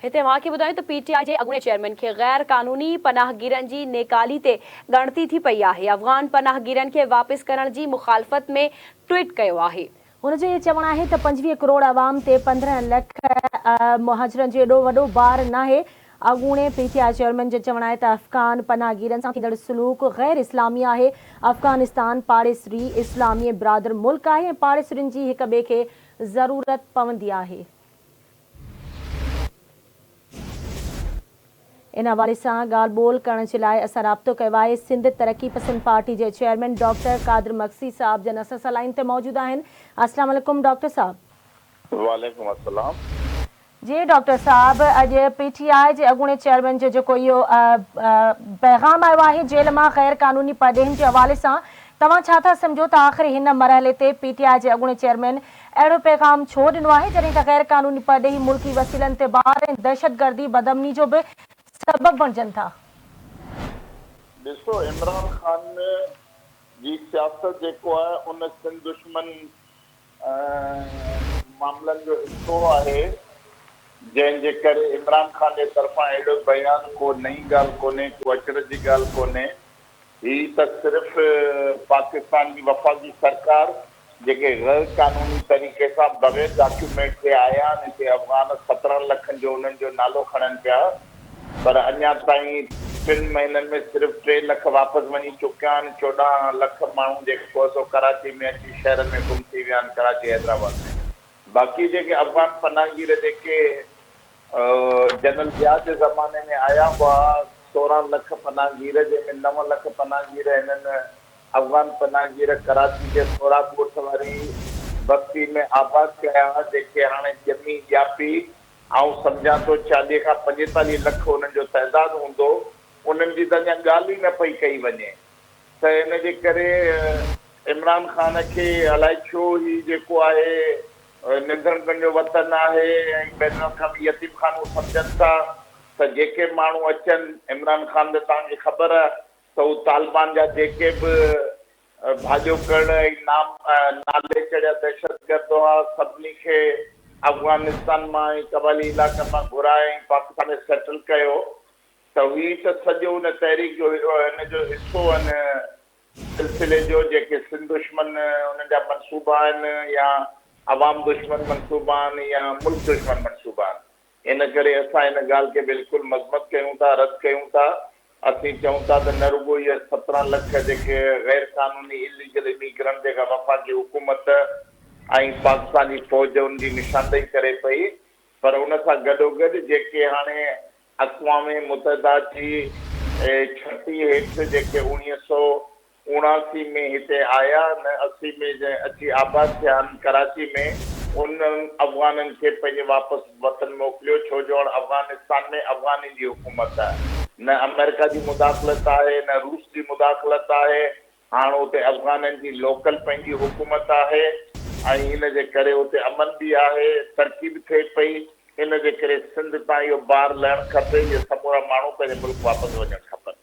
هتي اوهان کي ٻڌايون ته پي ٽي آء جي اڳوڻي چيئرمين کي غير قانوني پناهگيرن جي نيڪالي تي ڳڻتي ٿي پئي آهي، افغان پناهگيرن کي واپس ڪرڻ جي مخالفت ۾ ٽوئيٽ ڪيو آهي. هن جو اهو چوڻ آهي ته پنجويهه ڪروڙ عوام تي پندرهن لک مهاجرن جو ايڏو وڏو بار ناهي، اڳوڻي پي ٽي آء چيئرمين جو چوڻ آهي ته افغان پناهگيرن سان ٿيندڙ سلوڪ غير اسلامي آهي، افغانستان پاڙيسري اسلامي ۽ برادر ملڪ آهي ۽ پاڙيسرين جي هڪ ٻئي کي ضرورت پوندي آهي. ان حوالي سان ڳالهه ٻولهه ڪرڻ جي لاء اسان رابطو ڪيو آهي. سنڌ ترقي پسند پارٽي جي چيئرمين ڊاڪٽر قادر مگسي صاحب جن اسان سان لائين تي موجود آهن. السلام عليڪم ڊاڪٽر صاحب. وعليڪم السلام. جي ڊاڪٽر صاحب اڄ پي ٽي آء جي اڳوڻي چيئرمين جو جيڪو اهو پيغام آيو آهي جيل مان غير قانوني پرڏيهين جي حوالي سان توهان ڇا ٿا سمجهو ته آخر هن مرحلي تي پي ٽي آء جي اڳوڻي چيئرمين اهڙو پيغام ڇو ڏنو آهي جڏهن ته غير قانوني پرڏيهي ملڪي وسيلن تي بار ۽ دهشتگردي بدامني جو به سبب بڻجن ٿا. ڏسو عمران خان جي سياست جيڪو آهي ان سنڌ دشمن معاملن جو حصو آهي جنهن جي ڪري عمران خان جي طرفان اهڙو بيان ڪو نئين ڳالهه ڪونهي ڪو اچرج جي ڳالهه ڪونهي هي ته صرف پاڪستان جي وفاقي سرڪار جيڪي غير قانوني طريقي سان بغير ڊاڪيومينٽ تي آيا آهن هتي افغان سترهن لکن جو انهن جو نالو کڻن پيا پر اڃا تائين ٽن مهينن ۾ صرف ٽي لک واپس وڃي چڪيا آهن چوڏهن لک ماڻهو جيڪو سو ڪراچي ۾ اچي شهرن ۾ گم ٿي ويا آهن ڪراچي حيدرآباد ۾ باقي جيڪي افغان پناهگير جيڪي جنرل ضياء جي زماني ۾ آيا هئا سورهن لک پناهگير جنهن ۾ نو لک پناهگير هنن افغان پناهگير ڪراچي جي سوراب ڳوٺ واري بستي ۾ آباد ڪيا هئا جنهن کي هاڻي ڄمي ڄاپي آئون سمجهان ٿو چاليهه کان پنجيتاليهه لک انهن جو تعداد هوندو انهن جي ته اڃا ڳالهه ئي نه پئي ڪئي وڃي ته ان جي ڪري عمران خان کي الائي ڇو هي جيڪو آهي اهي نڌڻ پنهنجو وطن آهي ۽ بين الاقوامي يتيم خانو سمجهن ٿا ته جيڪي ماڻهو اچن عمران خان ته توهان کي خبر ته هو طالبان جا جيڪي به ڀاڄوڪڙ ۽ نام نالي چڙهيا دهشتگرد هئا سڀني کي افغانستان مان ۽ قبائلي علائقن مان گهرائي ۽ پاڪستان ۾ سيٽل ڪيو ته هي ته سڄو ان تحريڪ جو هن جو حصو آهن سلسلي جو جيڪي سنڌ دشمن انهن جا منصوبا آهن يا عوام دشمن منصوبا آهن يا ملڪ دشمن منصوبا آهن ان ڪري اسان ان ڳالهه کي بلڪل مذمت ڪيون ٿا رد ڪيون ٿا اسين چئون ٿا ته نه رڳو اهي سترهن لک جيڪي غير قانوني اليگل اميگرنٽ جيڪا وفاقي حڪومت ۽ پاڪستان جي فوج ان جي نشاندهي ڪري پئي پر ان سان گڏوگڏ جيڪي هاڻي اقوام متحده جي ڇٽي هيٺ جيڪي اوڻيهه سؤ اڻاسي ۾ هتي آيا ۽ اسي ۾ جنهن اچي آباد ٿيا آهن ڪراچي ۾ انهن افغانن کي پنهنجي واپس وطن موڪليو ڇو جو هاڻ افغانستان ۾ افغانين جي حڪومت آهي نه آمريڪا جي مداخلت آهي نه روس جي مداخلت آهي هاڻ اتي افغانن جي لوڪل پنهنجي حڪومت آهي ۽ ان جي ڪري اتي امن به آهي، ترقي به ٿئي پئي، ان جي ڪري سنڌ تان اهو بار لهڻ کپي، اهي سمورا ماڻهو پنهنجي ملڪ واپس وڃڻ کپن.